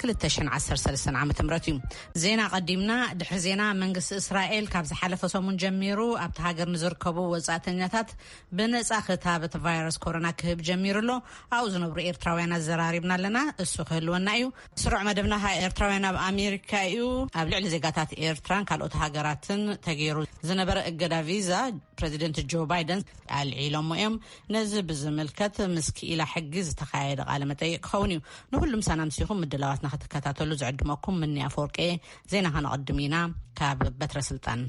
ክልተ ሽሕን ዓሰርተ ሰለስተን ዓመተ ምህረት እዩ። ዜና ቀዲምና ድሕሪ ዜና መንግስቲ እስራኤል ካብ ዝሓለፈ ሰሙን ጀሚሩ ኣብቲ ሃገር ንዝርከቡ ወጻእተኛታት ብነጻ ክታበት ቫይረስ ኮሮና ክህብ ጀሚሩ ኣሎ ኣብኡ ዝነብሩ ኤርትራውያን ኣዘራሪብና ኣለና እሱ ክህልወና እዩ ስሩዕ መደብና ካ ኤርትራውያን ኣብ ኣሜሪካ እዩ ኣብ ልዕሊ ዜጋታት ኤርትራን ካልኦት ሃገራትን ተገይሩ ዝነበረ እገዳ ቪዛ ፕረዚደንት ጆ ባይደን ኣልዒሎሞ እዮም ነዚ ብዝምልከት ምስ ክኢላ ሕጊ ዝተኻየደ ቃለ መጠይቅ ክኸውን እዩ። ንኹሉ ምሳና ምሲኹም ምድላዋትና ክትከታተሉ ዝዕድመኩም ምኒ ኣፈወርቂ ዜና ከነቐድም ኢና ካብ በትረ ስልጣን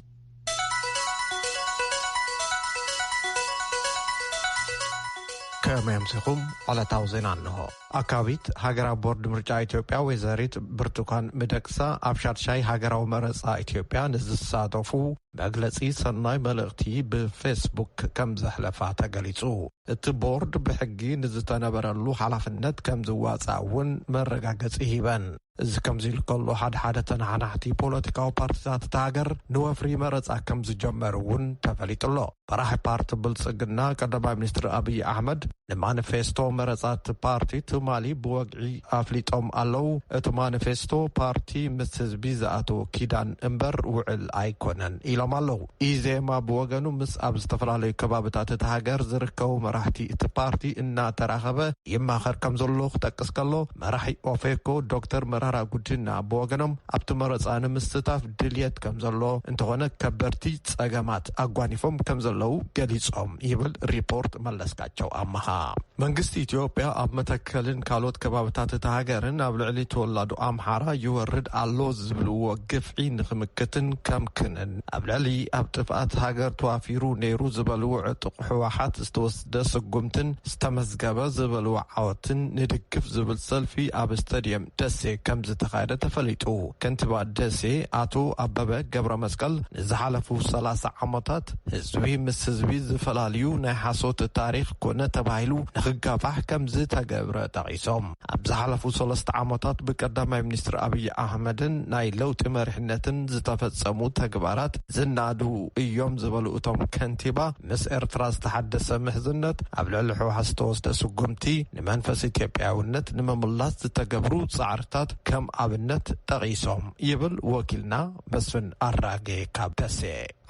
ከመይ ኣምሲኹም ዕለታዊ ዜና እንሆ ኣካቢት ሃገራዊ ቦርድ ምርጫ ኢትዮጵያ ወይዘሪት ብርቱኳን ምደቅሳ ኣብ ሻድሻይ ሃገራዊ መረፃ ኢትዮጵያ ንዝሳተፉ መግለጺ ሰናይ መልእኽቲ ብፌስቡክ ከም ዘሕለፋ ተገሊጹ። እቲ ቦርድ ብሕጊ ንዝተነበረሉ ሓላፍነት ከም ዝዋጻእ እውን መረጋገጺ ሂበን። እዚ ከምዚ ኢሉ ከሎ ሓደ ሓደ ተናሓናሕቲ ፖለቲካዊ ፓርቲታት እታ ሃገር ንወፍሪ መረጻ ከም ዝጀመሩ እውን ተፈሊጡ ኣሎ። መራሒ ፓርቲ ብልፅግና ቀዳማይ ሚኒስትር ኣብይ ኣሕመድ ንማኒፌስቶ መረፃ እቲ ፓርቲ ትማሊ ብወግዒ ኣፍሊጦም ኣለው። እቲ ማኒፌስቶ ፓርቲ ምስ ህዝቢ ዝኣተዎ ኪዳን እምበር ውዕል ኣይኮነን ኢሎም ኣለው። ኢዜማ ብወገኑ ምስ ኣብ ዝተፈላለዩ ከባብታት እቲ ሃገር ዝርከቡ መራሕቲ እቲ ፓርቲ እናተራኸበ ይማኸር ከም ዘሎ ክጠቅስ ከሎ መራሒ ኦፌኮ ዶክተር መራራ ጉዲና ብወገኖም ኣብቲ መረፃ ንምስታፍ ድልየት ከም ዘሎ እንተኾነ ከበድቲ ፀገማት ሸቐጥ ኣጓኒፎም ከም ዘለዉ ገሊፆም ይብል ሪፖርት መለስካቸው ኣመሃ። መንግስቲ ኢትዮጵያ ኣብ መተከልን ካልኦት ከባብታት እታ ሃገርን ኣብ ልዕሊ ተወላዶ ኣምሓራ ይወርድ ኣሎ ዝብልዎ ግፍዒ ንክምክትን ከምክንን ኣብ ልዕሊ ኣብ ጥፍኣት ሃገር ተዋፊሩ ነይሩ ዝበልዎ ዕጡቕ ህወሓት ዝተወሰ ደ ስጉምትን ዝተመዝገበ ዝበልዎ ዓወትን ንድግፍ ዝብል ሰልፊ ኣብ ስታዲየም ደሴ ከምዝተኻየደ ተፈሊጡ። ከንቲባ ደሴ ኣቶ ኣበበ ገብረመስቀል ንዝሓለፉ ሰላሳ ዓመታት ህዝቢ ምስ ህዝቢ ዝፈላልዩ ናይ ሓሶት ታሪኽ ኮነ ተባሂሉ ንክጋፋሕ ከምዝተገብረ ጠቒሶም። ኣብ ዝሓለፉ ሰለስተ ዓመታት ብቀዳማይ ሚኒስትር ኣብዪ ኣሕመድን ናይ ለውጢ መሪሕነትን ዝተፈፀሙ ተግባራት ዝናዱ እዮም ዝበሉ እቶም ከንቲባ፣ ምስ ኤርትራ ዝተሓደሰ ምሕዝነት፣ ኣብ ልዕሊ ህወሓት ዝተወስደ ስጉምቲ፣ ንመንፈስ ኢትዮጵያዊነት ንምምላስ ዝተገብሩ ፃዕርታት ከም ኣብነት ጠቒሶም ይብል ወኪልና መስፍን ኣራጌ ካብ ደሴ።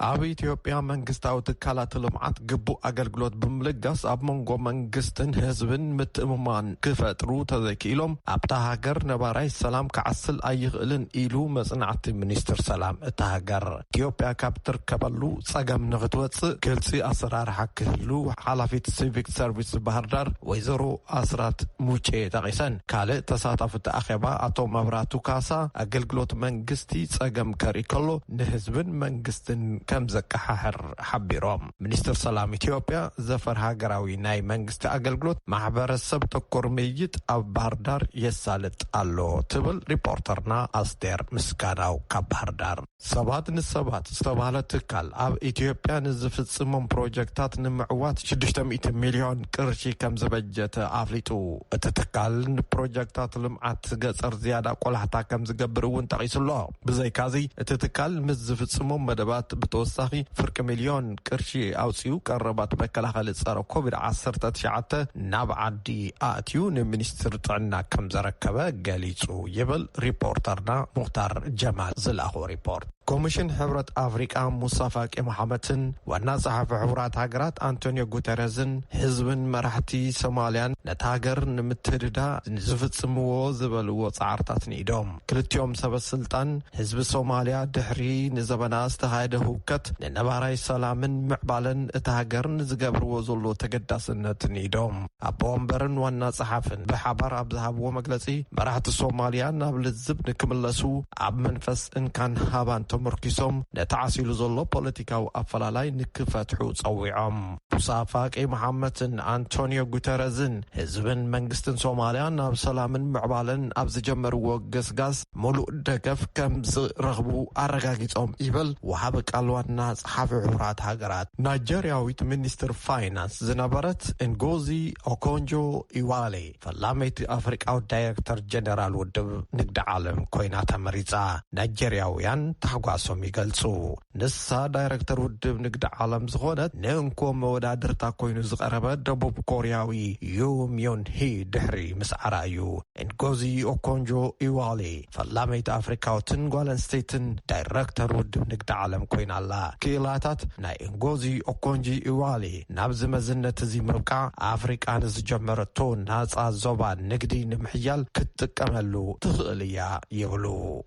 ኣብ ኢትዮጵያ መንግስታዊ ትካላት ልምዓት ግቡእ ኣገልግሎት ብምልጋስ ኣብ መንጎ መንግስትን ህዝብን ምትእምማን ክፈጥሩ ተዘይክኢሎም ኣብታ ሃገር ነባራይ ሰላም ክዓስል ኣይኽእልን ኢሉ መፅናዕቲ ሚኒስትር ሰላም እታ ሃገር። ኢትዮጵያ ካብ እትርከበሉ ፀገም ንኽትወፅእ ግልፂ ኣሰራርሓ ክህሉ ሓላፊት ሲቪክ ሰርቪስ ባህርዳር ወይዘሮ ኣስራት ሙጬ ጠቒሰን። ካልእ ተሳታፊ እቲ ኣኼባ ኣቶ መብራቱ ካሳ ኣገልግሎት መንግስቲ ፀገም ከርኢ ከሎ ንህዝብን መንግስትን ከም ዘቀሓሕር ሓቢሮም። ሚኒስትር ሰላም ኢትዮጵያ ዘፈር ሃገራዊ ናይ መንግስቲ ኣገልግሎት ማሕበረሰብ ተኮር ምይይጥ ኣብ ባህርዳር የሳልጥ ኣሎ ትብል ሪፖርተርና ኣስቴር ምስጋናው ካብ ባህርዳር። ሰባት ንሰባት ዝተብሃለ ትካል ኣብ ኢትዮጵያ ንዝፍፅሞም ፕሮጀክታት ንምዕዋት ሽዱሽተ ሚእቲ ሚልዮን ቅርሺ ከም ዝበጀተ ኣፍሊጡ። እቲ ትካል ንፕሮጀክታት ልምዓት ገፀር ዝያዳ ቆላሕታ ከም ዝገብር እውን ጠቒሱ'ሎ። ብዘይካዚ እቲ ትካል ምስ ዝፍፅሞም መደባት ብተወሳኺ ፍርቂ ሚልዮን ቅርሺ ኣውፅኡ ቀረባት መከላኸሊ ፀረ ኮቪድ ዓሰርተ ትሽዓተ ናብ ዓዲ ኣእትዩ ንሚኒስትር ጥዕና ከም ዘረከበ ገሊፁ ይብል ሪፖርተርና ሙክታር ጀማል ዝላኾ ሪፖርት። ኮሚሽን ሕብረት ኣፍሪቃ ሙሳ ፋቂ መሓመትን ዋና ጸሓፊ ሕቡራት ሃገራት ኣንቶኒዮ ጉተረዝን ህዝብን መራሕቲ ሶማልያን ነታ ሃገር ንምትህድዳ ዝፍጽምዎ ዝበልዎ ጻዕርታት ንኢዶም ክልቲኦም ሰበስልጣን፣ ህዝቢ ሶማልያ ድሕሪ ንዘበና ዝተኻየደ ህውከት ንነባራይ ሰላምን ምዕባለን እታ ሃገር ንዝገብርዎ ዘሎ ተገዳስነት ንኢዶም። ኣቦ ወንበርን ዋና ጸሓፍን ብሓባር ኣብ ዝሃብዎ መግለጺ፣ መራሕቲ ሶማልያ ናብ ልዝብ ንክምለሱ ኣብ መንፈስ እንካን ሃባን ተመርኲሶም ነቲ ዓሲሉ ዘሎ ፖለቲካዊ ኣፈላላይ ንክፈትሑ ጸዊዖም። ሙሳ ፋቂ መሓመትን ኣንቶንዮ ጉተረዝን ህዝብን መንግስትን ሶማልያ ናብ ሰላምን ምዕባለን ኣብ ዝጀመርዎ ገስጋስ ሙሉእ ደገፍ ከም ዝረኽቡ ኣረጋጊፆም ይበል ወሃቢ ቃል ዋና ፀሓፊ ሕቡራት ሃገራት ናይጀርያዊት ሚኒስትር ፋይናንስ ዝነበረት እንጎዚ ኦኮንጆ ኢዋሌ። ፈላመይቲ ኣፍሪቃዊት ዳይረክተር ጀነራል ውድብ ንግዲ ዓለም ኮይና ተመሪጻ፣ ናይጀርያውያን ታሕጓሶም ይገልጹ። ንሳ ዳይረክተር ውድብ ንግዲ ዓለም ዝኾነት ንእንኮ መወዳድርታ ኮይኑ ዝቐረበ ደቡብ ኮርያዊ ዩ ምዮን ሂ ድሕሪ ምስዓራ እዩ ንጎዚ ኦኮንጆ ኢዋሌ ፈላመይቲ ኣፍሪካዊትን ጓል ኣንስተይትን ዳይረክተር ውድብ ንግዲ ዓለም ኮይና ኣላ። ክኢላታት ናይ እንጎዚ ኦኮንጂ ኢዋሊ ናብዚ መዝነት እዚ ምብቃዕ ኣፍሪቃ ንዝጀመረቶ ናፃ ዞባ ንግዲ ንምሕያል ክትጥቀመሉ ትኽእል እያ ይብሉ።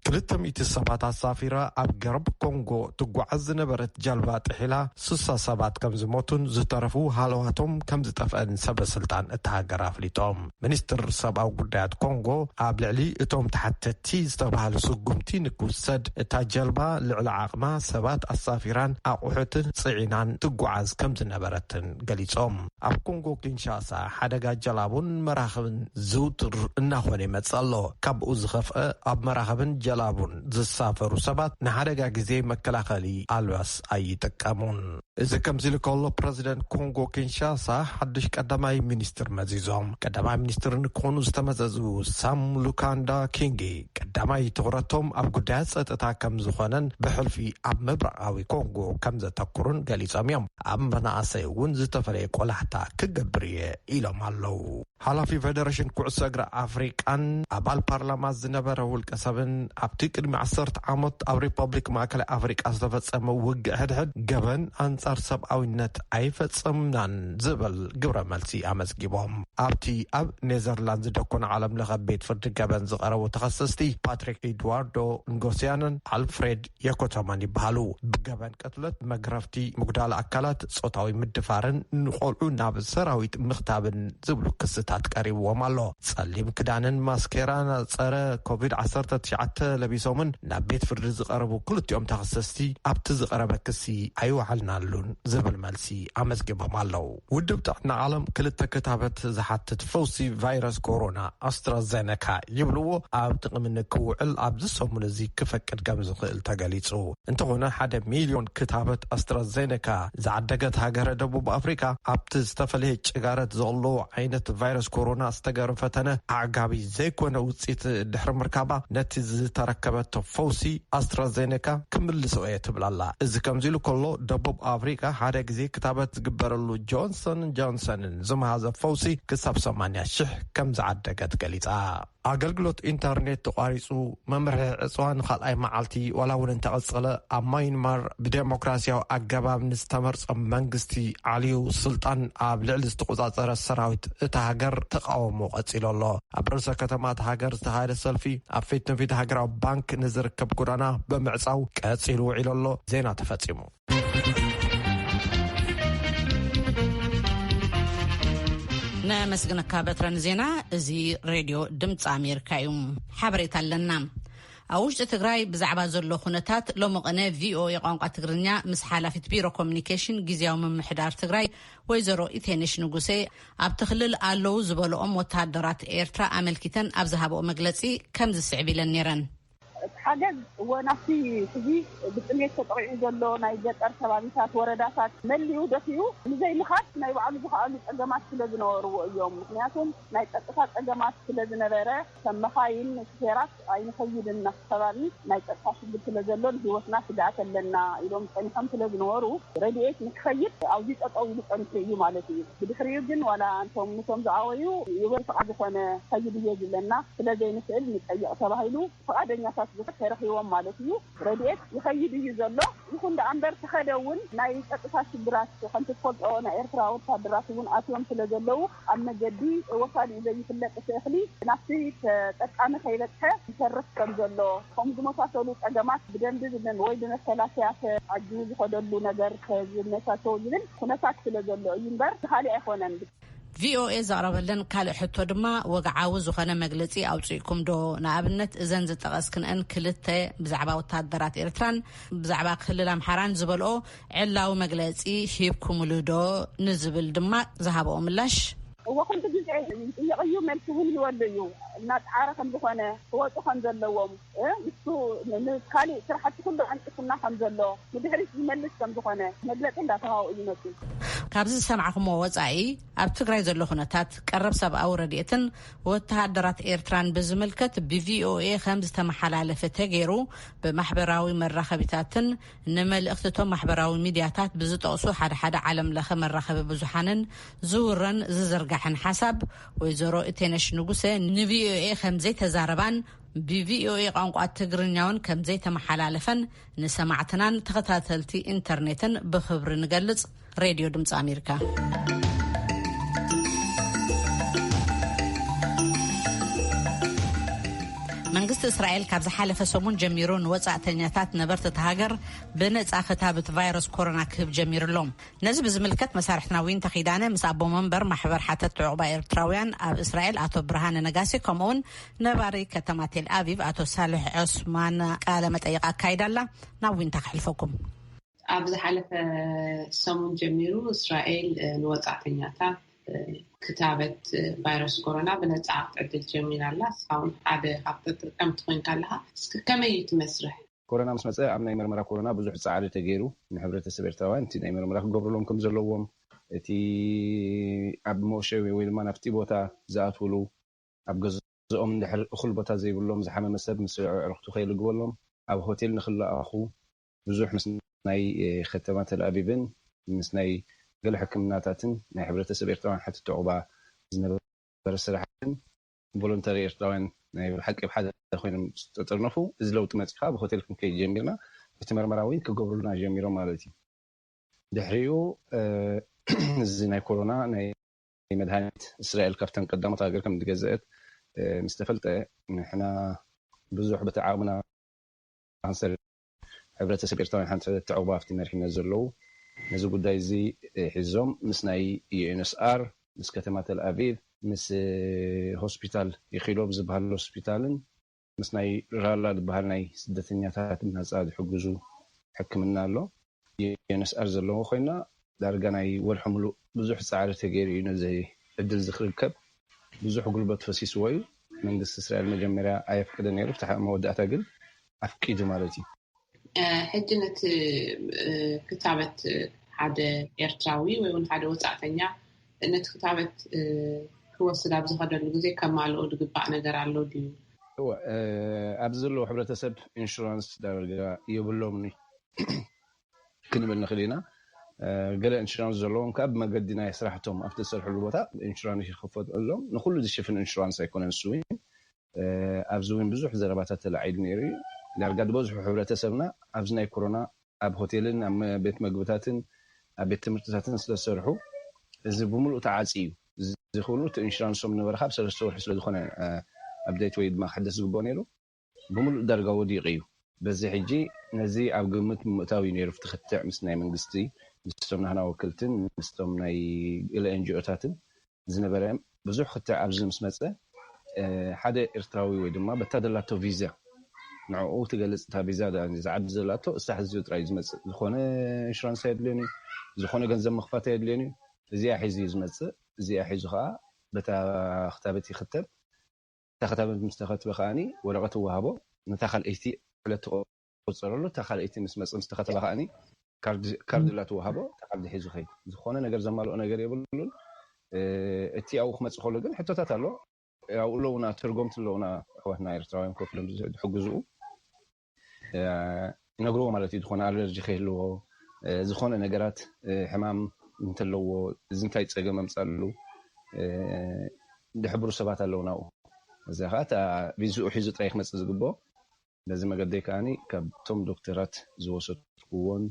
ክልተ ሚእቲ ሰባት ኣሳፊራ ኣብ ገርብ ኮንጎ ትጓዓዝ ዝነበረት ጀልባ ጥሒላ ስሳ ሰባት ከምዝሞቱን ዝተረፉ ሃለዋቶም ከምዝጠፍአን ሰበስልጣን እታ ሃገር ኣፍሊጦም። ሚኒስትር ሰብኣዊ ጉዳያት ኮንጎ ኣብ ልዕሊ እቶም ተሓተቲ ዝተባሃሉ ስጉምቲ ንክውሰድ እታ ጀልባ ልዕሊ ዓቕማ ሰባት ኣሳፊራን ኣቑሑትን ፅዒናን ትጓዓዝ ከምዝነበረትን ገሊፆም። ኣብ ኮንጎ ኪንሻሳ ሓደጋ ጀላቡን መራኽብን ዝውቱር እናኾነ ይመፅእ ኣሎ። ካብኡ ዝኸፍኣ ኣብ መራኽብን ጀላቡን ዝሳፈሩ ሰባት ንሓደጋ ግዜ መከላኸሊ ኣልባስ ኣይጥቀሙን። እዚ ከምዚሉ ከሎ ፕረዚደንት ኮንጎ ኪንሻሳ ሓዱሽ ቀዳማይ ሚኒስትር መዚዞም። ቀዳማይ ሚኒስትር ንክኾኑ ዝተመዘዙ ሳም ሉካንዳ ኪንጊ ቀዳማይ ትኹረቶም ኣብ ጉዳያት ፀጥታ ከምዝኾነን ብሕልፊ ኣብ ምብራቓዊ ኮንጎ ከምዘተኩሩን ገሊፆም እዮም። ኣብ መናእሰይ እውን ዝተፈለየ ቆላሕታ ክገብር እየ ኢሎም ኣለው። ሓላፊ ፌደረሽን ኩዕሶ እግሪ ኣፍሪቃን ኣባል ፓርላማ ዝነበረ ውልቀ ሰብን ኣብቲ ቅድሚ ዓሰርተ ዓሞት ኣብ ሪፐብሊክ ማእከላይ ኣፍሪቃ ዝተፈጸመ ውግእ ሕድሕድ ገበን ኣንጻር ሰብኣዊነት ኣይፈጸምናን ዝብል ግብረ መልሲ ኣመዝጊቦም። ኣብቲ ኣብ ኔዘርላንድ ዝደኮነ ዓለም ለኸ ቤት ፍርዲ ገበን ዝቐረቡ ተኸሰስቲ ፓትሪክ ኢድዋርዶ ንጎስያንን ኣልፍሬድ የኮተማን ይበሃሉ ብገበን ቅትለት መግረፍቲ ምጉዳል ኣካላት ፆታዊ ምድፋርን ንቆልዑ ናብ ሰራዊት ምክታብን ዝብሉ ክስታት ቀሪብዎም ኣሎ ፀሊም ክዳንን ማስኬራን ፀረ ኮቪድ 19 ለቢሶምን ናብ ቤት ፍርዲ ዝቀረቡ ክልቲኦም ተኸሰስቲ ኣብቲ ዝቀረበ ክሲ ኣይወዓልናሉን ዝብል መልሲ ኣመዝጊቦም ኣለው ውድብ ጥዕና ዓለም ክልተ ክታበት ዝሓትት ፈውሲ ቫይረስ ኮሮና ኣስትራዘነካ ይብልዎ ኣብ ጥቕሚ ንክውዕል ኣብዚ ሰሙን እዚ ክፈቅድ ከም ዝኽእል ተገሊጹ። እንተኾነ ሓደ ሚልዮን ክታበት ኣስትራዘነካ ዝዓደገት ሃገረ ደቡብ ኣፍሪቃ ኣብቲ ዝተፈለየ ጭጋረት ዘቕልዎ ዓይነት ቫይረስ ኮሮና ዝተገበረ ፈተነ ኣዕጋቢ ዘይኮነ ውጽኢት ድሕሪ ምርካባ ነቲ ዝተረከበቶ ፈውሲ ኣስትራዘነካ ክምልሶ እየ ትብል ኣላ። እዚ ከምዚ ኢሉ ከሎ ደቡብ ኣፍሪቃ ሓደ ግዜ ክታበት ዝግበረሉ ጆንሰንን ጆንሰንን ዝመሃዘ ፈውሲ ክሳብ ሰማንያ ሽሕ ከም ዝዓደገት ገሊጻ። ኣገልግሎት ኢንተርኔት ተቋሪጹ፣ መምርሒ ዕጽዋ ንኻልኣይ መዓልቲ ዋላ እውን እንተቐጸለ፣ ኣብ ማይንማር ብደሞክራስያዊ ኣገባብ ንዝተመርጸ መንግስቲ ዓልዩ ስልጣን ኣብ ልዕሊ ዝተቖጻጸረ ሰራዊት እታ ሃገር ተቓውሞ ቀጺሉ ኣሎ። ኣብ ርእሰ ከተማ እታ ሃገር ዝተኻየደ ሰልፊ ኣብ ፊት ንፊት ሃገራዊ ባንክ ንዝርከብ ጎዳና ብምዕጻው ቀጺሉ ውዒሉ ኣሎ። ዜና ተፈጺሙ። ነመስግነካ በትረ ንዜና እዚ ሬድዮ ድምፂ ኣሜሪካ እዩ ሓበሬታ ኣለና ኣብ ውሽጢ ትግራይ ብዛዕባ ዘሎ ኩነታት ሎሚ ቅነ ቪኦኤ ቋንቋ ትግርኛ ምስ ሓላፊት ቢሮ ኮሚኒኬሽን ግዜያዊ ምምሕዳር ትግራይ ወይዘሮ ኢቴንሽ ንጉሴ ኣብቲ ክልል ኣለው ዝበልኦም ወተሃደራት ኤርትራ ኣመልኪተን ኣብ ዝሃበኦ መግለፂ ከምዝስዕብ ኢለን ነይረን እቲ ሓገዝ እወ ናብቲ ሕዚ ብጥምየት ተጠቒዑ ዘሎ ናይ ገጠር ከባቢታት፣ ወረዳታት መሊኡ ደፊኡ ንዘይምኻድ ናይ ባዕሉ ዝኸኣሉ ፀገማት ስለዝነበርዎ እዮም። ምኽንያቱም ናይ ፀጥታ ፀገማት ስለዝነበረ ከም መኻይን፣ ሹፌራት ኣይንኸይድን ናብቲ ከባቢ ናይ ፀጥታ ሽግር ስለዘሎ ንህይወትና ስግኣት ኣለና ኢሎም ፀኒሖም ስለዝነበሩ ረድኤት ንክኸይድ ኣብዙይ ጠጠው ኢሉ ፀኒሑ እዩ ማለት እዩ። ብድሕሪኡ ግን ዋላ ኣንቶም ኑቶም ዝኣወዩ ዩበር ፍቓድ ዝኾነ ኸይድ እዮ ዝብለና ስለ ዘይንኽእል ንጠይቕ ተባሂሉ ፍቓደኛታት ዝኾኑ ተረኺቦም ማለት እዩ። ረድኤት ይኸይድ እዩ ዘሎ። ይኹን ደኣ እምበር ተኸደ እውን ናይ ጸጥታ ሽግራት ከምቲ ትፈልጦ ናይ ኤርትራ ወታደራት እውን ኣትዮም ስለ ዘለዉ ኣብ መገዲ ወሳኒኡ ዘይፍለጥ እቲ እኽሊ ናብቲ ተጠቃሚ ከይበጽሐ ይተርፍ ከም ዘሎ ከምኡ ዝመሳሰሉ ጸገማት ብደንቢ ወይ ብመከላከያ ተዓጂቡ ዝኸደሉ ነገር ተዝመቻቸው ዝብል ኩነታት ስለ ዘሎ እዩ እምበር ብኻሊእ ኣይኾነን። ቪኦኤ ዘቕረበለን ካልእ ሕቶ ድማ ወግዓዊ ዝኾነ መግለጺ ኣውጺእኩም ዶ? ንኣብነት እዘን ዝጠቐስክንኤን ክልተ ብዛዕባ ወታሃደራት ኤርትራን ብዛዕባ ክልል ኣምሓራን ዝበልኦ ዕላዊ መግለጺ ሂብኩምሉ ዶ? ንዝብል ድማ ዝሃበኦ ምላሽ። እወ ኩሉ ግዜ ይጥየቕ እዩ፣ መልሲ እውን ይህበሉ እዩ። እናጸዓረ ከም ዝኾነ ክወጹ ከም ዘለዎም። ንሱ ንካሊእ ስራሕቲ ኩሉ ዓንቂፉና ከም ዘሎ ንድሕሪት ዝመልስ ከም ዝኾነ መግለፂ እንዳተሃቦ እዩ መፂኡ። ካብዚ ዝሰማዕኹምዎ ወፃኢ ኣብ ትግራይ ዘሎ ኩነታት፣ ቀረብ ሰብኣዊ ረድኤትን ወተሃደራት ኤርትራን ብዝምልከት ብቪኦኤ ከም ዝተመሓላለፈ ተገይሩ ብማሕበራዊ መራኸቢታትን ንመልእኽቲ እቶም ማሕበራዊ ሚድያታት ብዝጠቕሱ ሓደ ሓደ ዓለም ለኸ መራኸቢ ብዙሓንን ዝውረን ዝዝርጋሕን ሓሳብ ወይዘሮ እቴነሽ ንጉሰ ንቪኦኤ ከም ዘይተዛረባን ብቪኦኤ ቋንቋ ትግርኛውን ከምዘይተመሓላለፈን ንሰማዕትናን ተኸታተልቲ ኢንተርኔትን ብኽብሪ ንገልጽ። ሬድዮ ድምፂ ኣሜሪካ መንግስቲ እስራኤል ካብ ዝሓለፈ ሰሙን ጀሚሩ ንወፃእተኛታት ነበርቲ እቲ ሃገር ብነፃ ክታብት ቫይረስ ኮሮና ክህብ ጀሚሩ ኣሎ ነዚ ብዝምልከት መሳርሕትና ዊንታ ኪዳነ ምስ ኣቦ መንበር ማሕበር ሓተት ዕቑባ ኤርትራውያን ኣብ እስራኤል ኣቶ ብርሃነ ነጋሲ ከምኡውን ነባሪ ከተማ ቴልኣቪቭ ኣቶ ሳልሕ ዖስማን ቃለ መጠይቕ ኣካይዳ ኣላ። ናብ ዊንታ ከሕልፈኩም። ኣብ ዝሓለፈ ሰሙን ጀሚሩ እስራኤል ንወጻእተኛታት ክታበት ቫይረስ ኮሮና ብነጻ ክትዕድል ጀሚራ ኣላ። ንስኻ እውን ሓደ ካብ ተጠቀምቲ ኮይንካ ኣለኻ። እስኪ ከመይ እዩ እቲ መስርሕ? ኮሮና ምስ መጸ ኣብ ናይ መርመራ ኮሮና ብዙሕ ጻዕሪ ተገይሩ። ንሕብረተሰብ ኤርትራውያን እቲ ናይ መርመራ ክገብርሎም ከም ዘለዎም፣ እቲ ኣብ መወሸቢ ወይ ድማ ናብቲ ቦታ ዝኣትውሉ፣ ኣብ ገዝኦም እንድሕር እኹል ቦታ ዘይብሎም ዝሓመመ ሰብ ምስ ኣዕርኽቱ ከይልግበሎም ኣብ ሆቴል ንክለኣኹ ብዙሕ ምስ ናይ ኸተማ ተልኣቪቭን ምስ ናይ ገለ ሕክምናታትን ናይ ሕብረተሰብ ኤርትራውያን ሓትቲ ዑቕባ ዝነበረ ስራሕን ቮሎንተሪ ኤርትራውያን ናይ ብሓቂ ኣብ ሓደ ኮይኖም ዝተጠርነፉ እዚ ለውጢ መጺኡ ከኣ ኣብ ሆቴል ክንከይድ ጀሚርና እቲ መርመራ ውን ክገብሩልና ጀሚሮም ማለት እዩ ድሕሪኡ እዚ ናይ ኮሮና ናይ መድሃኒት እስራኤል ካብተን ቀዳሞት ሃገር ከም ዝገዘእት ምስ ተፈልጠ ንሕና ብዙሕ በቲ ዓቕምና ክንሰርሕ ሕብረተሰብ ኤርትራውያን ሓንቲ ሕብረት ተዕቕቦ ኣብቲ መሪሕነት ዘለዉ ነዚ ጉዳይ እዚ ሒዞም ምስ ናይ ዩኤንስኣር ምስ ከተማ ተልኣቪቭ ምስ ሆስፒታል ኢኪሎ ብዝበሃል ሆስፒታልን ምስ ናይ ራላ ዝብሃል ናይ ስደተኛታት ናጻ ዝሕግዙ ሕክምና ኣሎ UNSR ዘለዎ ኮይና ዳርጋ ናይ ወርሒ ምሉእ ብዙሕ ጻዕሪ ተገይሩ እዩ ነዚ ዕድል እዚ ክርከብ ብዙሕ ጉልበት ፈሲስዎ እዩ መንግስቲ እስራኤል መጀመርያ ኣየፍቅድን ነይሩ ፍትሓዊ መወዳእታ ግን ኣፍቂዱ ማለት እዩ። ሕጂ ነቲ ክታበት ሓደ ኤርትራዊ ወይ ውን ሓደ ወፃእተኛ ነቲ ክታበት ክወስድ ኣብ ዝኸደሉ ግዜ ከማልኦ ዝግባእ ነገር ኣሎ ድዩ? እወ ኣብዚ ዘለዉ ሕብረተሰብ ኢንሹራንስ ዳርጋ የብሎምን እዩ ክንብል ንኽእል ኢና። ገለ ኢንሹራንስ ዘለዎም ከኣ ብመገዲ ናይ ስራሕቶም ኣብቲ ዝሰርሕሉ ቦታ ኢንሹራንስ ይኽፈትሎም። ንኹሉ ዝሽፍን ኢንሹራንስ ኣይኮነን ስዊን። ኣብዚ እውን ብዙሕ ዘረባታት ተላዒሉ ነይሩ እዩ። ዳርጋ ዝበዝሑ ሕብረተሰብና ኣብዚ ናይ ኮሮና ኣብ ሆቴልን ኣብ ቤት መግብታትን ኣብ ቤት ትምህርትታትን ስለ ዝሰርሑ እዚ ብምሉኡ ተዓጽዩ እዩ። እዚ ኩሉ እቲ ኢንሹራንሶም ነበረኻ ኣብ ሰለስተ ወርሒ ስለ ዝኾነ ኣፕደይት ወይ ድማ ክሕደስ ዝግበኦ ነይሩ ብምሉኡ ዳርጋ ወዲቑ እዩ። በዚ ሕጂ ነዚ ኣብ ግምት ብምእታው እዩ ነይሩ ኣብቲ ክትዕ ምስ ናይ መንግስቲ ምስቶም ናህና ወክልትን ምስቶም ናይ ገለ ኤንጂኦታትን ዝነበረ ብዙሕ ክትዕ ኣብዚ ምስ መጸ ሓደ ኤርትራዊ ወይ ድማ በታ ዘላቶ ቪዛ ንዕኡ ትገልጽ እታ ቪዛ ድኣ እዚ ዓዲ ዘላቶ እሳ ሕዚኡ ጥራይ እዩ ዝመጽእ ዝኾነ ኢንሹራንስ ኣየድልዮን እዩ ዝኾነ ገንዘብ ምኽፋት ኣየድልዮን እዩ እዚኣ ሒዙ እዩ ዝመጽእ እዚኣ ሒዙ ከኣ በታ ክታበት ይኽተብ እታ ክታበት ምስ ተኸትበ ከኣ ወረቐት ይወሃቦ ነታ ካልኣይቲ ዕለት ቁጸረሉ እታ ካልኣይቲ ምስ መጽ ምስ ተኸተባ ከኣኒ ካርድ ካርድ እላ ትወሃቦ እታ ካርድ ሒዙ ይኸይድ ዝኾነ ነገር ዘማልኦ ነገር የብሉን እቲ ኣብኡ ክመጽእ ከሎ ግን ሕቶታት ኣሎ ኣብኡ ኣለውና ተርጎምቲ ኣለውና ኣሕዋትና ኤርትራውያን ኮፍ ኢሎም ዝሕግዝኡ ይነግርዎ ማለት እዩ ዝኾነ ኣለርጂ ከይህልዎ ዝኾነ ነገራት ሕማም እንተለዎ እዚ እንታይ ጸገም ኣምጻሉ ዝሕብሩ ሰባት ኣለውና ኣብኡ እዚኣ ከዓ እታ ቪዝኡ ሒዙ ጥራይ ክመጽእ ዝግብኦ በዚ መገደይ ከኣ ካብቶም ዶክተራት ዝወሰድኩዎን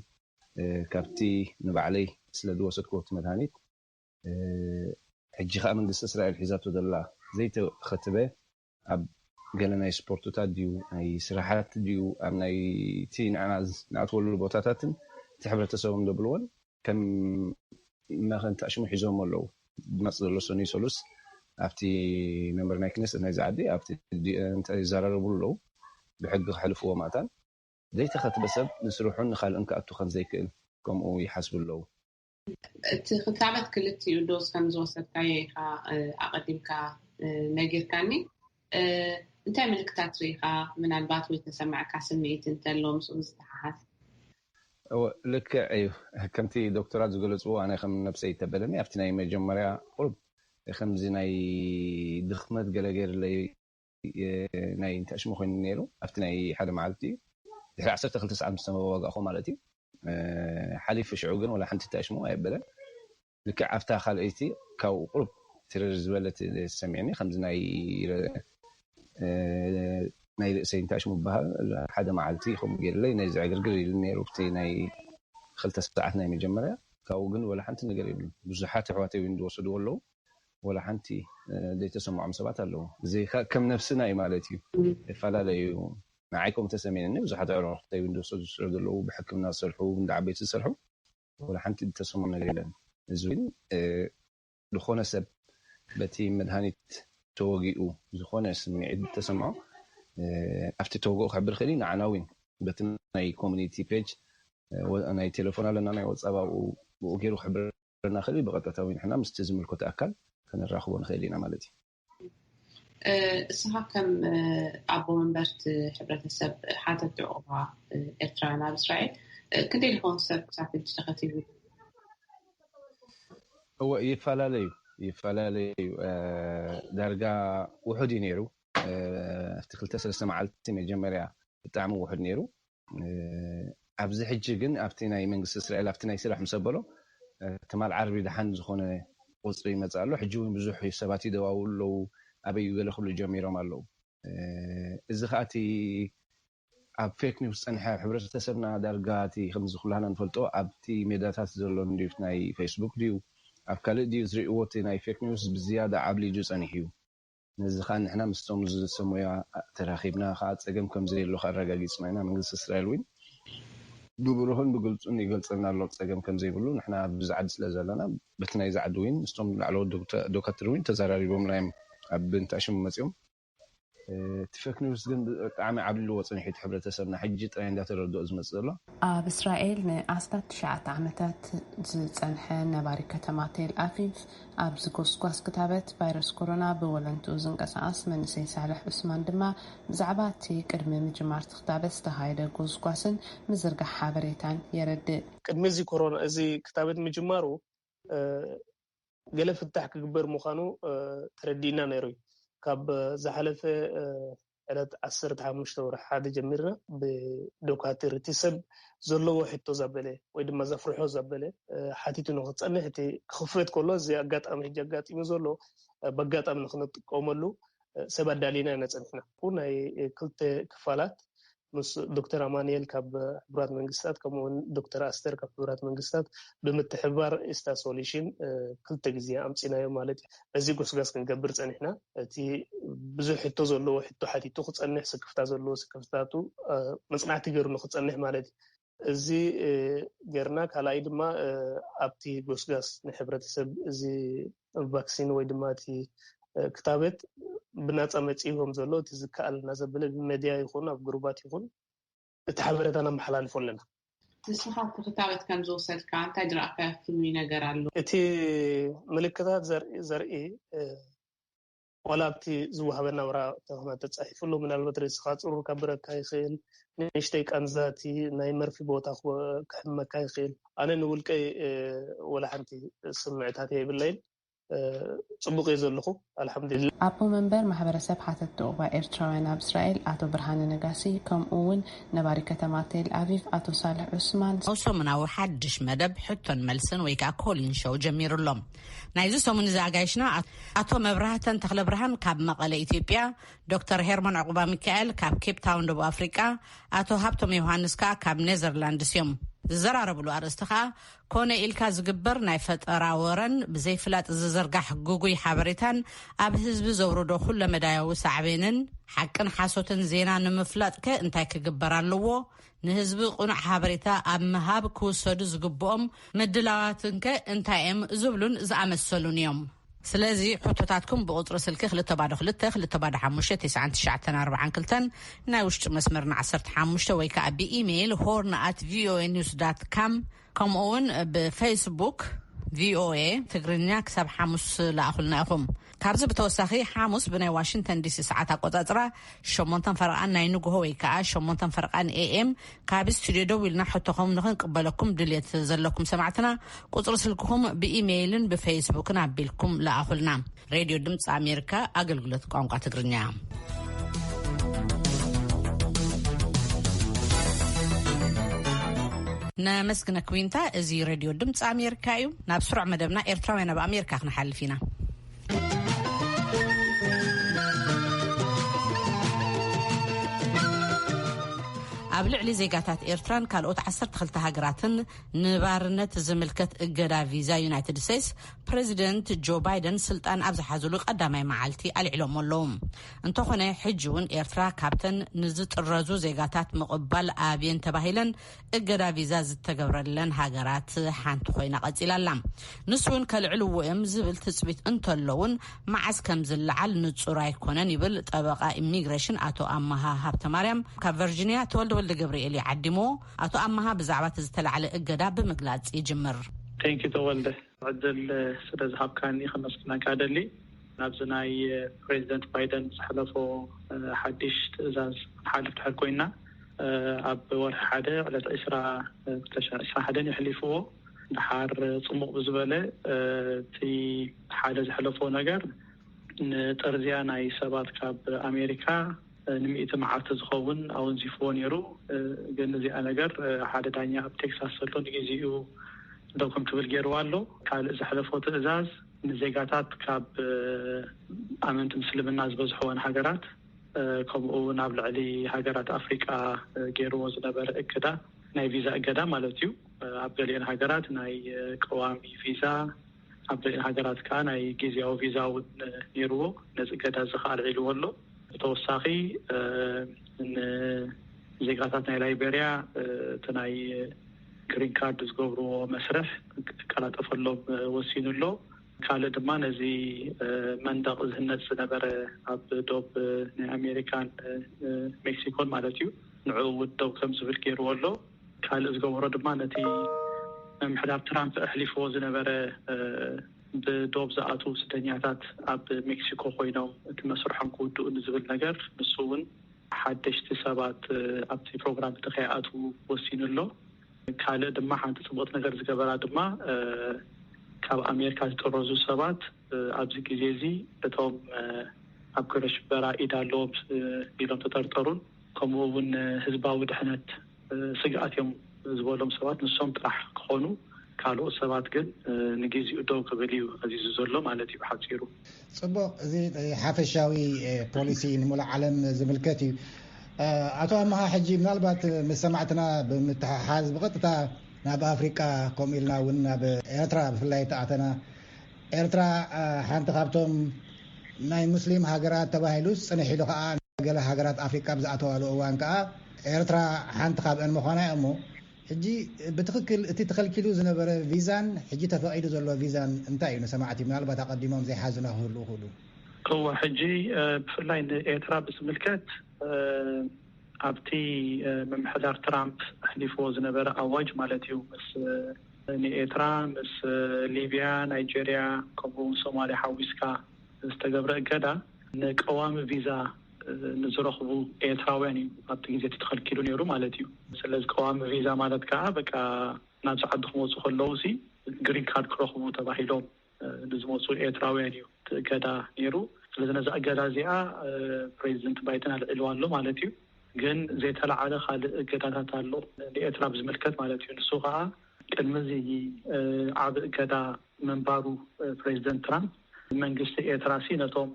ካብቲ ንባዕለይ ስለ ዝወሰድኩዎ እቲ መድሃኒት ሕጂ ከኣ መንግስቲ እስራኤል ሒዛቶ ዘላ ዘይተኸትበ ኣብ ገለ ናይ ስፖርትታት ድዩ ናይ ስራሓት ድዩ ኣብ ናይቲ ንዓና ንኣትወሉ ቦታታትን እቲ ሕብረተሰቦም ዘብልዎን ከም መኸንታ ሽሙ ሒዞሞ ኣለዉ። ዝመጽእ ዘሎ ሰኑይ ሰሉስ ኣብቲ መንበር ናይ ክነሰት ናይዛ ዓዲ ኣብቲ ዲኤንተ ይዘራረብሉ ኣለዉ። ብሕጊ ከሕልፍዎ ማእታን። ዘይተኸትበ ሰብ ንስርሑን ንኻልእን ክኣቱ ከም ዘይክእል ከምኡ ይሓስቡ ኣለዉ። እቲ ክታበት ክልቲኡ ዶዝ ከም ዝወሰድካዮ ኢኻ ኣቐዲምካ ነጊርካኒ። እንታይ ምልክታት ርኢኻ፣ ምናልባት ወይ ተሰማዕካ ስምዒት እንተሎ ምስኡ ዝተሓሓዝ? እወ ልክዕ ኢዩ ከምቲ ዶክቶራት ዝገለጽዎ ኣነ ከም ነብሰይ ተበለኒ ኣብቲ ናይ መጀመርያ ቁሩብ ከምዚ ናይ ድኽመት ገለ ገይርለይ ናይ እንተእሽሙ ኮይኑኒ ነይሩ ኣብቲ ናይ ሓደ መዓልቲ ኢዩ ድሕሪ ዓሰርተ ክልተ ሰዓት ምስ ተዋጋእኩ ማለት ኢዩ ሓሊፉ ሽዑ ግን ወላ ሓንቲ ተእሽሙ ኣየበለን ልክዕ ኣብታ ካልኣይቲ ካብኡ ቁሩብ ትርር ዝበለት ተሰሚዕኒ ከምዚ ናይ ርእሰይ እንታይ ሽሙ ይብሃል ሓደ መዓልቲ ከምኡ ጌርለይ ነዚ ዕግርግር ኢሉኒ ኔሩ ብቲ ናይ ክልተ ሰዓት ናይ መጀመርያ ካብኡ ግን ወላ ሓንቲ ነገር የብሉን ብዙሓት ኣሕዋተይ ውን ዝወሰድዎ ኣለዉ ወላ ሓንቲ ዘይተሰምዖም ሰባት ኣለዉ ብዘይካ ከም ነብስና ዩ ማለት ዩ ይፈላለ ዩ ንዓይ ከምኡ ተሰሚዕኒ ብዙሓት ኣዕሩክተይ ውን ዝወሰዱ ስለ ዘለዉ ብሕክምና ዝሰርሑ ብ እንዳ ዓበይቲ ዝሰርሑ ወላ ሓንቲ ዝተሰምዖ ነገር የለን። እዚ ግን ዝኾነ ሰብ በቲ መድሃኒት ተወጊኡ ዝኾነ ስምዒት እንተሰምዖ ኣብቲ ተወግኦ ክሕብር ይኽእል እዩ። ንዓና እውን በቲ ናይ ኮሙኒቲ ፔጅ ናይ ቴለፎን ኣለና ናይ ዋትሳብ ኣብኡ ብኡ ገይሩ ክሕብረና ይኽእል እዩ። ብቐጥታ እውን ንሕና ምስቲ ዝምልከቶ ኣካል ከነራኽቦ ንኽእል ኢና ማለት እዩ። እስኻ ከም ኣቦ መንበርቲ ሕብረተሰብ ሓተቲ ዑቕባ ኤርትራውያን ኣብ እስራኤል ክንደይ ዝኸውን ሰብ ክሳብ ሕጂ ተኸቲቡ? እወ ይፈላለ እዩ ይፈላለ እዩ ዳርጋ ውሑድ እዩ ነይሩ ኣብቲ ክልተ ሰለስተ መዓልቲ መጀመርያ ብጣዕሚ ውሑድ ነይሩ ኣብዚ ሕጂ ግን ኣብቲ ናይ መንግስቲ እስራኤል ኣብቲ ናይ ስራሕ ምስ ኣበሎ ትማል ዓርቢ ደሓን ዝኾነ ቁጽሪ ይመጽእ ኣሎ ሕጂ ውን ብዙሕ ሰባት ይደዋውሉ ኣለዉ ኣበይ እዩ ገለ ክብሉ ጀሚሮም ኣለዉ እዚ ከኣ እቲ ኣብ ፌክ ኒውስ ዝጸንሐ ኣብ ሕብረተሰብና ዳርጋ እቲ ከምዚ ኩላህና ንፈልጦ ኣብቲ ሜዳታት ዘሎ ንድዩት ናይ ፈይስቡክ ድዩ ኣብ ካልእ ድዩ ዝርእዎ እቲ ናይ ፌክ ኒውስ ብዝያዳ ዓብሊጁ ጸኒሑ እዩ ነዚ ከኣ ንሕና ምስቶም ዝሰመዩዋ ተራኺብና ከኣ ጸገም ከም ዘየሎ ከኣ ኣረጋጊጽና ኢና መንግስቲ እስራኤል ውን ብብሩህን ብግልጹን ይገልጸልና ኣሎ ጸገም ከም ዘይብሉ ንሕና ኣብዚ ዓዲ ስለ ዘለና በቲ ናይዚ ዓዲ ውን ምስቶም ላዕለዎት ዶካትር ውን ተዛራሪቦምና እዮም ኣብ እንተ ሽሙ መጽዮም እቲ ፈክ ኒውስ ግን ብጣዕሚ ዓብሊልዎ ጸኒሑ እቲ ሕብረተሰብና ሕጂ ጥራይ እንዳ ተረድኦ ዝመጽእ ዘሎ። ኣብ እስራኤል ንኣስታት ትሽዓተ ዓመታት ዝጸንሐ ነባሪ ከተማ ቴል ኣቪቭ ኣብዚ ጎስጓስ ክታበት ቫይረስ ኮሮና ብወለንትኡ ዝንቀሳቐስ መንእሰይ ሳልሕ ዑስማን ድማ ብዛዕባ እቲ ቅድሚ ምጅማር'ቲ ክታበት ዝተኻየደ ጎስጓስን ምዝርጋሕ ሓበሬታን የረድእ። ቅድሚ እዚ ኮሮና እዚ ክታበት ምጅማሩ ገለ ፍታሕ ክግበር ምዃኑ ተረዲእና ነይሩ'ዩ። ካብ ዝሓለፈ ዕለት ዓሰርተ ሓሙሽተ ወርሒ ሓደ ጀሚርና ብዶካትር እቲ ሰብ ዘለዎ ሕቶ ዛበለ ወይ ድማ ዘፍርሖ ዛበለ ሓቲቱ ንክፀንሕ እቲ ክኽፈት ከሎ እዚ ኣጋጣሚ ሕጂ ኣጋጢሙ ዘሎ በጋጣሚ ንክንጥቀመሉ ሰብ ኣዳሊና ኢና ፀኒሕና ናይ ክልተ ክፋላት ምስ ዶክተር ኣማንኤል ካብ ሕቡራት መንግስታት ከምኡውን ዶክተር ኣስተር ካብ ሕቡራት መንግስታት ብምትሕብባር ኢስታ ሶሉሽን ክልተ ግዜ ኣምፂናዮ ማለት እዩ እዚ ጎስጋስ ክንገብር ጸኒሕና። እቲ ብዙሕ ሕቶ ዘለዎ ሕቶ ሓቲቱ ክጸንሕ፣ ስክፍታ ዘለዎ ስክፍታታቱ መጽናዕቲ ገይሩ ንክጸንሕ ማለት እዩ። እዚ ገይርና ካልኣይ ድማ ኣብቲ ጎስጋስ ንሕብረተሰብ እዚ ቫክሲን ወይ ድማ እቲ ክታበት ብናጻ መጺኡ ከምዘሎ እቲ ዝከኣለና ዘበለ ብመድያ ይኹን ኣብ ግሩባት ይኹን እቲ ሓበረታ ነመሓላልፎ ኣለና። ንስኻ ተኽታበት ከም ዝወሰድካ እንታይ ዝረኣካዮ ፍሉይ ነገር ኣሎ? እቲ ምልክታት ዘርኢ ዋላ ኣብቲ ዝወሃበና ወረቓቕቲ ኹናት ተጻሒፉሉ ምናልባት ርእስኻ ጽሩር ከብረካ ይኽእል፣ ንእሽተይ ቃንዛ እቲ ናይ መርፊ ቦታ ክሕመካ ይኽእል። ኣነ ንውልቀይ ወላ ሓንቲ ስምዕታት የብለይን። ጽቡቕ እየ ዘለኹ ኣልሓምዱሊላህ። ኣቦ መንበር ማሕበረሰብ ሓተትቲ ዑቕባ ኤርትራውያን ኣብ እስራኤል ኣቶ ብርሃነ ነጋሲ ከምኡ እውን ነባሪ ከተማ ቴል ኣቪቭ ኣቶ ሳልሕ ዑስማን፣ ኣብ ሰሙናዊ ሓድሽ መደብ ሕቶን መልስን ወይ ከኣ ኮሊን ሾው ጀሚሩ ኣሎ። ናይዚ ሰሙን እዚ ኣጋይሽና ኣቶ መብራህተን ተኽለብርሃን ካብ መቐለ ኢትዮጵያ፣ ዶክተር ሄርሞን ዑቕባሚካኤል ካብ ኬፕታውን ደቡብ ኣፍሪቃ፣ ኣቶ ሃብቶም ዮውሃንስ ከኣ ካብ ኔዘርላንድስ እዮም። ዝዘራረብሉ ኣርእስቲ ከኣ ኮነ ኢልካ ዝግበር ናይ ፈጠራ ወረን ብዘይፍላጥ ዝዝርጋሕ ግጉይ ሓበሬታን ኣብ ህዝቢ ዘውርዶ ኩለመዳያዊ ሳዕቤንን፣ ሓቅን ሓሶትን ዜና ንምፍላጥከ እንታይ ክግበር ኣለዎ? ንህዝቢ ቅኑዕ ሓበሬታ ኣብ ምሃብ ክውሰዱ ዝግብኦም ምድላዋትንከ እንታይ'የም? ዝብሉን ዝኣመሰሉን እዮም። ስለዚ ሕቶታትኩም ብቁጽሪ ስልኪ ክልተ ባዶ ክልተ፣ ክልተ ባዶ ሓሙሽተ፣ ቴስዓን ትሽዓተን ኣርብዓን ክልተን ናይ ውሽጢ መስመርና ዓሰርተ ሓሙሽተ ወይ ከኣ ብኢሜይል ሆርን ኣት ቪኦኤ ኒውስ ዳት ካም ከምኡ እውን ብፌስቡክ ቪኦኤ ትግርኛ ክሳብ ሓሙስ ለኣኹልና ኢኹም። ካብዚ ብተወሳኺ ሓሙስ ብናይ ዋሽንግተን ዲሲ ሰዓት ኣቆጻጽራ ሸሞንተን ፈርቓን ናይ ንግሆ ወይ ከኣ ሸሞንተን ፈርቓን ኤኤም ካብ ስቱድዮ ደዊልና ሕቶኹም ንኽንቅበለኩም ድልየት ዘለኩም ሰማዕትና ቁጽሪ ስልክኹም ብኢሜይልን ብፌስቡክን ኣቢልኩም ለኣኹልና። ሬድዮ ድምፂ ኣሜሪካ ኣገልግሎት ቋንቋ ትግርኛ ነመስግነክ ዊንታ። እዚ ሬድዮ ድምፂ ኣሜሪካ እዩ። ናብ ስሩዕ መደብና ኤርትራውያን ኣብ ኣሜሪካ ክንሓልፍ ኢና። ኣብ ልዕሊ ዜጋታት ኤርትራን ካልኦት 12 ሃገራትን ንባርነት ዝምልከት እገዳ ቪዛ ዩናይትድ ስቴትስ ፕረዚደንት ጆ ባይደን ስልጣን ኣብ ዝሓዝሉ ቀዳማይ መዓልቲ ኣልዕሎሞ ኣለዉ እንተኾነ ሕጂ እውን ኤርትራ ካብተን ንዝጥረዙ ዜጋታት ምቕባል ኣብየን ተባሂለን እገዳ ቪዛ ዝተገብረለን ሃገራት ሓንቲ ኮይና ቀፂላ ኣላ። ንሱ እውን ከልዕልዎ እዮም ዝብል ትፅቢት እንተሎ እውን መዓዝ ከም ዝለዓል ንፁር ኣይኮነን ይብል ጠበቓ ኢሚግሬሽን ኣቶ ኣመሃ ሃብተማርያም። ካብ ቨርጂንያ ተወልደ ወልደገብርኤል እዩ ዓዲምዎ። ኣቶ ኣመሃ ብዛዕባ እቲ ዝተላዕለ እገዳ ብምግላፅ ይጅምር። Thank you ተወልደ። ዕድል ስለ ዝሃብካኒ ከመስግነካ እደሊ። ናብዚ ናይ ፕረዚደንት ባይደን ዘሕለፎ ሓድሽ ትእዛዝ ክንሓልፍ ድሕር ኮይንና፣ ኣብ ወርሒ ሓደ ዕለት ዕስራ ክልተ ሽሕ ዕስራን ሓደን የሕሊፍዎ። ደሓር ጽሙቕ ብዝበለ እቲ ሓደ ዘሕለፎ ነገር ንጠርዝያ ናይ ሰባት ካብ ኣሜሪካ፣ ንሚእቲ መዓልቲ ዝኸውን ኣወንዚፍዎ ነይሩ። ግን እዚኣ ነገር ሓደ ዳኛ ኣብ ቴክሳስ ዘሎ ንግዜኡ ደው ከም ትብል ገይርዋ ኣሎ። ካልእ ዘሕለፎ ትእዛዝ ንዜጋታት ካብ ኣመንቲ ምስልምና ዝበዝሕወን ሃገራት ከምኡ'ውን ኣብ ልዕሊ ሃገራት ኣፍሪቃ ገይርዎ ዝነበረ እገዳ ናይ ቪዛ እገዳ ማለት እዩ ኣብ ገሊኤን ሃገራት ናይ ቀዋሚ ቪዛ ኣብ ሃገራት ከኣ ናይ ግዝያዊ ቪዛ እውን ነይርዎ። ነዚ እገዳ እዚ ከኣ ኣልዒልዎ ኣሎ። ብተወሳኺ ንዜጋታት ናይ ላይበርያ እቲ ናይ ግሪን ካርድ ዝገብርዎ መስርሕ ክቀላጠፈሎም ወሲኑ ኣሎ። ካልእ ድማ ነዚ መንደቕ ዝህነጽ ዝነበረ ኣብ ዶብ ናይ ኣሜሪካን ሜክሲኮን ማለት እዩ ንዕኡ እውን ደው ከም ዝብል ገይርዎ ኣሎ። ካልእ ዝገበሮ ድማ ነቲ ምምሕዳር ትራምፕ ኣሕሊፍዎ ዝነበረ ብዶብ ዝኣትዉ ስደኛታት ኣብ ሜክሲኮ ኮይኖም እቲ መስርሖም ክውድኡ ንዝብል ነገር ንሱ እውን ሓደሽቲ ሰባት ኣብቲ ፕሮግራም እቲ ከይኣትዉ ወሲኑ ኣሎ። ካልእ ድማ ሓንቲ ጽቡቕቲ ነገር ዝገበራ ድማ ካብ ኣሜሪካ ዝጥረዙ ሰባት ኣብዚ ግዜ እዚ እቶም ኣብ ግብረ ሽበራ ኢድ ኣለዎም ኢሎም ዝተጠርጠሩን ከምኡ እውን ህዝባዊ ድሕነት ስግኣት እዮም ዝበሎም ሰባት ንሶም ጥራሕ ክኾኑ ካልኦት ሰባት ግን ንጊዚኡ ደው ክብል እዩ ኣዚዙ ዘሎ ማለት እዩ ብሓፂሩ። ፅቡቕ እዚ ሓፈሻዊ ፖሊሲ ንሙሉእ ዓለም ዝምልከት እዩ። ኣቶ ኣመሃ ሕጂ ምናልባት ምስ ሰማዕትና ብምትሕሓዝ ብቐጥታ ናብ ኣፍሪቃ ከምኡ ኢልና እውን ናብ ኤርትራ ብፍላይ ተኣተና ኤርትራ ሓንቲ ካብቶም ናይ ሙስሊም ሃገራት ተባሂሉ ጽንሕ ኢሉ ከኣ ገለ ሃገራት ኣፍሪቃ ኣብ ዝኣተዋሉ እዋን ከኣ ኤርትራ ሓንቲ ካብኤን ምዃና እያ እሞ ሕጂ ብትኽክል እቲ ተኸልኪሉ ዝነበረ ቪዛን ሕጂ ተፈቒዱ ዘሎ ቪዛን እንታይ እዩ ንሰማዕቲ ምናልባት ኣቐዲሞም ዘይሓዙና ክህልዉ ይኽእሉ። እወ ሕጂ ብፍላይ ንኤርትራ ብዝምልከት ኣብቲ ምምሕዳር ትራምፕ ኣሕሊፍዎ ዝነበረ ኣዋጅ ማለት እዩ ምስ ንኤርትራ ምስ ሊብያ ናይጀርያ ከምኡውን ሶማልያ ሓዊስካ ዝተገብረ እገዳ ንቀዋሚ ቪዛ ንዝረኽቡ ኤርትራውያን እዩ ኣብቲ ግዜ እቲ ተኸልኪሉ ነይሩ ማለት እዩ። ስለዚ ቀዋሚ ቪዛ ማለት ከኣ በቃ ናብዚ ዓዲ ክመጹ ከለዉሲ ግሪን ካርድ ክረኽቡ ተባሂሎም ብዝመፁ ኤርትራውያን እዩ እቲ እገዳ ነይሩ። ስለዚ ነዛ እገዳ እዚኣ ፕሬዚደንት ባይደን ኣልዒልዋ ኣሎ ማለት እዩ። ግን ዘይተለዓለ ካልእ እገዳታት ኣሎ ንኤርትራ ብዝምልከት ማለት እዩ። ንሱ ከዓ ቅድሚ እዚ ዓብ እገዳ ምንባሩ ፕሬዚደንት ትራምፕ መንግስቲ ኤርትራሲ ነቶም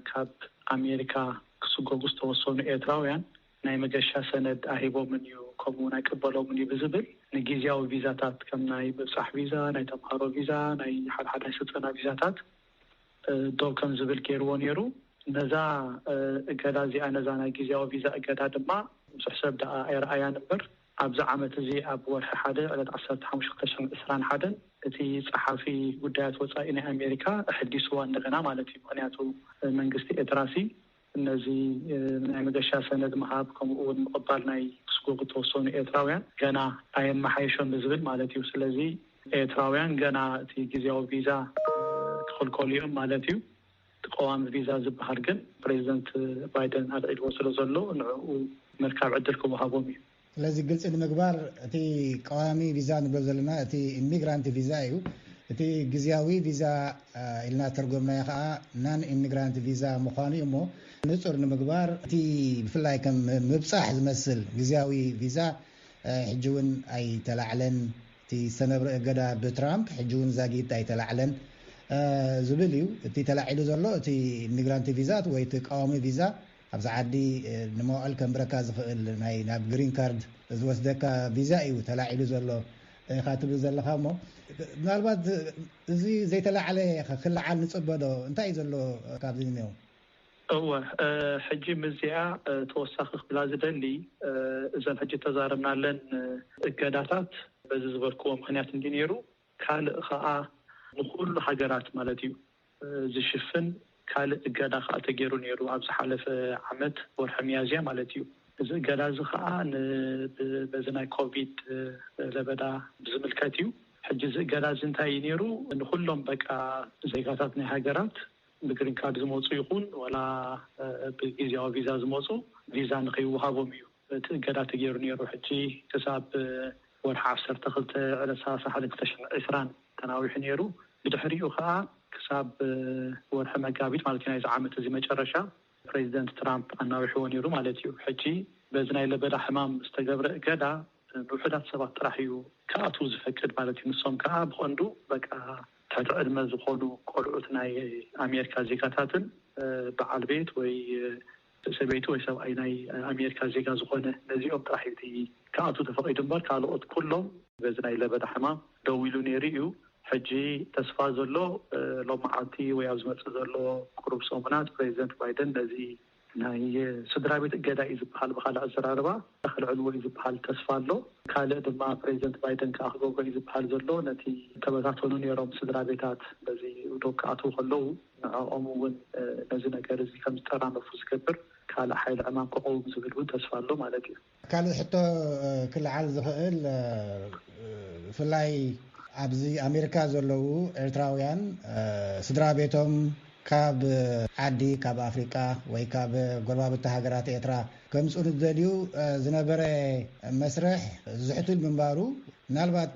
ካብ ኣሜሪካ ክስጎጉ ዝተወሰኑ ኤርትራውያን ናይ መገሻ ሰነድ ኣሂቦምን እዩ ከምኡውን ኣይቅበሎምን እዩ ብዝብል ንጊዝያዊ ቪዛታት ከም ናይ ምብጻሕ ቪዛ፣ ናይ ተምሃሮ ቪዛ፣ ናይ ሓድሓድ ናይ ስልጠና ቪዛታት ደው ከም ዝብል ገይርዎ ነይሩ። ነዛ እገዳ እዚኣ ነዛ ናይ ጊዝያዊ ቪዛ እገዳ ድማ ብዙሕ ሰብ ደኣ ኣይረኣያን እምበር ኣብዚ ዓመት እዚ ኣብ ወርሒ ሓደ ዕለት ዓሰርተ ሓሙሽተ ክልተ ሽሕን ዕስራን ሓደን እቲ ጸሓፊ ጉዳያት ወጻኢ ናይ ኣሜሪካ ኣሐዲስዋ እንደገና ማለት እዩ ምኽንያቱ መንግስቲ ኤትራሲ ነዚ ናይ መገሻ ሰነድ ምሃብ ከምኡ እውን ምቕባል ናይ ክስጎጉ እተወሰኑ ኤርትራውያን ገና ኣየመሓየሾን ንዝብል ማለት እዩ። ስለዚ ኤርትራውያን ገና እቲ ግዝያዊ ቪዛ ክኽልከሉ እዮም ማለት እዩ። እቲ ቀዋሚ ቪዛ ዝበሃል ግን ፕረዚደንት ባይደን ኣልዒልዎ ስለዘሎ ንዕኡ ምርካብ ዕድል ክወሃቦም እዩ። ስለዚ ግልፂ ንምግባር እቲ ቀዋሚ ቪዛ ንብሎ ዘለና እቲ ኢሚግራንት ቪዛ እዩ። እቲ ግዝያዊ ቪዛ ኢልና ዝተርጎምናዮ ከዓ ናን ኢሚግራንት ቪዛ ምዃኑ እዩ እሞ ንፁር ንምግባር እቲ ብፍላይ ከም ምብፃሕ ዝመስል ግዝያዊ ቪዛ ሕጂ እውን ኣይተላዕለን እቲ ዝተነብረ እገዳ ብትራምፕ ሕጂ እውን ዛጊት ኣይተላዕለን ዝብል እዩ እቲ ተላዒሉ ዘሎ እቲ ኢሚግራንት ቪዛ ወይ እቲ ቀዋሚ ቪዛ ኣብዚ ዓዲ ንመውዕል ከንብረካ ዝኽእል ናይ ናብ ግሪን ካርድ ዝወስደካ ቪዛ እዩ ተላዒሉ ዘሎ ኢኻ ትብል ዘለኻ እሞ ምናልባት እዚ ዘይተላዕለ ክልዓል ንጽበ ዶ እንታይ እዩ ዘሎ ካብዚ ንኔው? እወ ሕጂ ምስዚኣ ተወሳኺ ክብላ ዝደሊ እዘን ሕጂ እተዛረብናለን እገዳታት በዚ ዝበልክዎ ምኽንያት እንድዩ ኔሩ። ካልእ ከኣ ንኹሉ ሃገራት ማለት'ዩ ዝሽፍን ካልእ እገዳ ከኣ ተገይሩ ነይሩ ኣብ ዝሓለፈ ዓመት ወርሒ ሚያዝያ ማለት'ዩ። እዚ እገዳ'ዚ ከኣ ን በዚ ናይ ኮቪድ ለበዳ ብዝምልከት'ዩ። ሕጂ እዚ እገዳ'ዚ እንታይ'ዩ ነይሩ ንኹሎም በቃ ዜጋታት ናይ ሃገራት ብግሪን ካርድ ዝመጹ ይኹን ወላ ብግዝያዊ ቪዛ ዝመጹ ቪዛ ንኸይወሃቦም'ዩ። እቲ እገዳ ተገይሩ ነይሩ ሕጂ ክሳብ ወርሒ ዓሰርተ ክልተ ዕለት ሰላሳ ሓደ ክልተ ሽሕ ዕስራን ተናዊሑ ነይሩ ብድሕሪኡ ከኣ ክሳብ ወርሒ መጋቢት ማለት እዩ ናይዚ ዓመት እዚ መጨረሻ ፕሬዚደንት ትራምፕ ኣናዊሕዎ ነይሩ ማለት እዩ ሕጂ በዚ ናይ ለበዳ ሕማም ዝተገብረ እገዳ ንውሑዳት ሰባት ጥራሕ እዩ ክኣትዉ ዝፈቅድ ማለት እዩ ንሶም ከኣ ብቀንዱ በቃ ትሕቲ ዕድመ ዝኾኑ ቆልዑት ናይ ኣሜሪካ ዜጋታትን በዓል ቤት ወይ ሰበይቲ ወይ ሰብኣይ ናይ ኣሜሪካ ዜጋ ዝኾነ ነዚኦም ጥራሕ እዩ እቲ ክኣትው ተፈቒዱ እምበር ካልኦት ኩሎም። በዚ ናይ ለበዳ ሕማም ደው ኢሉ ነይሩ እዩ። ሕጂ ተስፋ ዘሎ ሎሚ መዓልቲ ወይ ኣብ ዝመጽእ ዘሎ ቁሩብ ሰሙናት ፕረዚደንት ባይደን ነዚ። ናይ ስድራቤት እገዳ እዩ ዝበሃል ብኻልእ ኣዘራርባ። ከልዕልዎ እዩ ዝብሃል ተስፋ ኣሎ። ካልእ ድማ ፕረዚደንት ባይደን ከኣ ክገብሮ እዩ ዝብሃል ዘሎ ነቲ ዝተበታተኑ ነይሮም ስድራቤታት በዚ ኡዶግ ክኣትዉ ከለዉ ንዕኦም እውን ነዚ ነገር እዚ ከም ዝጠራነፉ ዝገብር ካልእ ሓይሊ ዕማም ክቐውም ዝብል እውን ተስፋ ኣሎ ማለት እዩ። ካልእ ሕቶ ክልዓል ዝኽእል ብፍላይ ኣብዚ ኣሜሪካ ዘለዉ ኤርትራውያን ስድራቤቶም፣ ካብ ዓዲ ካብ ኣፍሪቃ ወይ ካብ ጎረባብቲ ሃገራት ኤርትራ ከምጽኡ ንዝደልዩ ዝነበረ መስርሕ ዝሕቱል ምንባሩ ምናልባት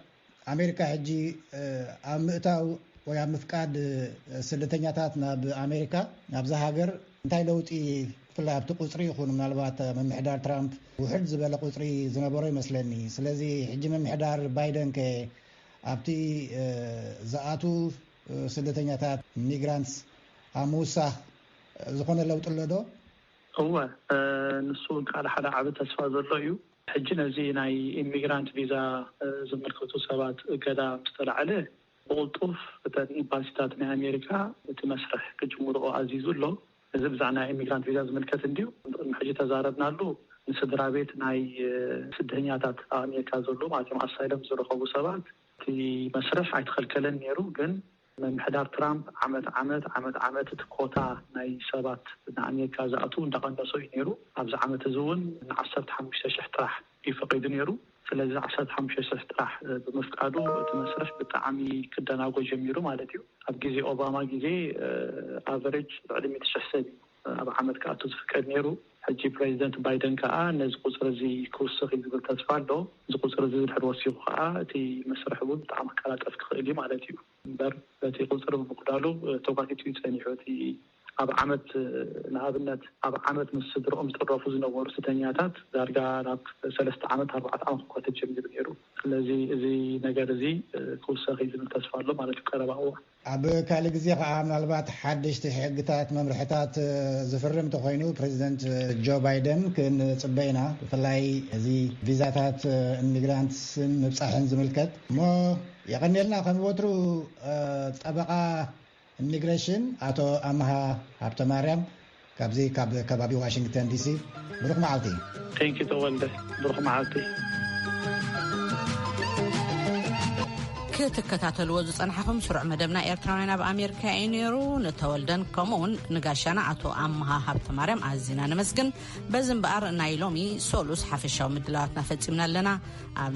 ኣሜሪካ ሕጂ ኣብ ምእታው ወይ ኣብ ምፍቃድ ስደተኛታት ናብ ኣሜሪካ ናብዛ ሃገር እንታይ ለውጢ ብፍላይ ኣብቲ ቁጽሪ ይኹን ምናልባት ምምሕዳር ትራምፕ ውሕድ ዝበለ ቁጽሪ ዝነበሮ ይመስለኒ ስለዚ ሕጂ ምምሕዳር ባይደን ከ ኣብቲ ዝኣትው ስደተኛታት፣ Migrants፣ ኣብ ምውሳኽ ዝኾነ ለውጢ ኣሎ ዶ? እወ፣ ንሱ እውን ካልእ ሓደ ዓቢ ተስፋ ዘሎ እዩ። ሕጂ ነዚ ናይ ኢሚግራንት ቪዛ ዝምልከቱ ሰባት እገዳ ምስ ተላዕለ፣ ብቕልጡፍ እተን ኢምባሲታት ናይ ኣሜሪካ እቲ መስርሕ ክጅምርኦ ኣዚዙ ኣሎ። እዚ ብዛዕባ ናይ ኢሚግራንት ቪዛ ዝምልከት እንድዩ። ቅድሚ ሕጂ እተዛረብናሉ ንስድራቤት ናይ ስደተኛታት ኣብ ኣሜሪካ ዘለዉ ማለት እዮም፣ ኣሳይለም ዝረኸቡ ሰባት፣ እቲ መስርሕ ኣይተኸልከለን ነይሩ፣ ግን ምምሕዳር ትራምፕ ዓመት ዓመት ዓመት ዓመት እቲ ኮታ ናይ ሰባት ንኣሜሪካ ዝኣትዉ እንዳቐነሶ እዩ ነይሩ። ኣብዚ ዓመት እዚ እውን ንዓሰርተ ሓሙሽተ ሽሕ ጥራሕ እዩ ፈቒዱ ነይሩ። ስለዚ ዓሰርተ ሓሙሽተ ሽሕ ጥራሕ ብምፍቃዱ እቲ መስርሕ ብጣዕሚ ክደናጎ ጀሚሩ ማለት እዩ። ኣብ ግዜ ኦባማ ግዜ ኣቨሬጅ ልዕሊ ሚእቲ ሽሕ ሰብ እዩ። ኣብ ዓመት ክኣቱ ዝፍቀድ ነይሩ። ሕጂ ፕረዚደንት ባይደን ከኣ ነዚ ቁጽሪ'ዚ ክውስኽ'ዩ ዝብል ተስፋ ኣሎ። እዚ ቁጽሪ'ዚ ድሕሪ ወሲኹ ከኣ እቲ መስርሕ እውን ብጣዕሚ ክቀላጠፍ ክኽእል'ዩ ማለት'ዩ። እምበር በቲ ቁጽሪ ብምጉዳሉ ተጓቲቱ'ዩ ጸኒሑ። እቲ ኣብ ዓመት ንኣብነት ኣብ ዓመት ምስ ስድርኦም ዝጥረፉ ዝነበሩ ስደተኛታት ዳርጋ ናብ ሰለስተ ዓመት ኣርባዕተ ዓመት ክጓተት ጀሚሩ ነይሩ። ስለዚ እዚ ነገር'ዚ ክውሰኽ'ዩ ዝብል ተስፋ ኣሎ ማለት'ዩ ቀረባ እዋን። ኣብ ካልእ ግዜ ከኣ ምናልባት ሓደሽቲ ሕግታት፣ መምርሕታት ዝፍርም ተኾይኑ ፕረዚደንት ጆ ባይደን ክንጽበ ኢና፣ ብፍላይ እዚ ቪዛታት ኢሚግራንትስን ምብጻሕን ዝምልከት። እሞ የቐንየልና ከም ወትሩ ጠበቓ ኢሚግረሽን ኣቶ ኣምሃ ሃብተማርያም ካብዚ ካብ ከባቢ ዋሽንግተን ዲሲ ብሩኽ መዓልቲ። Thank you ተወልደ ብሩኽ መዓልቲ። ክትከታተልዎ ዝጸናሕኹም ስሩዕ መደብና ኤርትራውያን ኣብ ኣሜሪካ እዩ ነይሩ ንተወልደን ከምኡውን ንጋሻና ኣቶ ኣመሃ ሃብተማርያም ኣዝና ነመስግን በዚ እምበኣር ናይ ሎሚ ሶሉስ ሓፈሻዊ ምድላዋትና ፈጺምና ኣለና ኣብ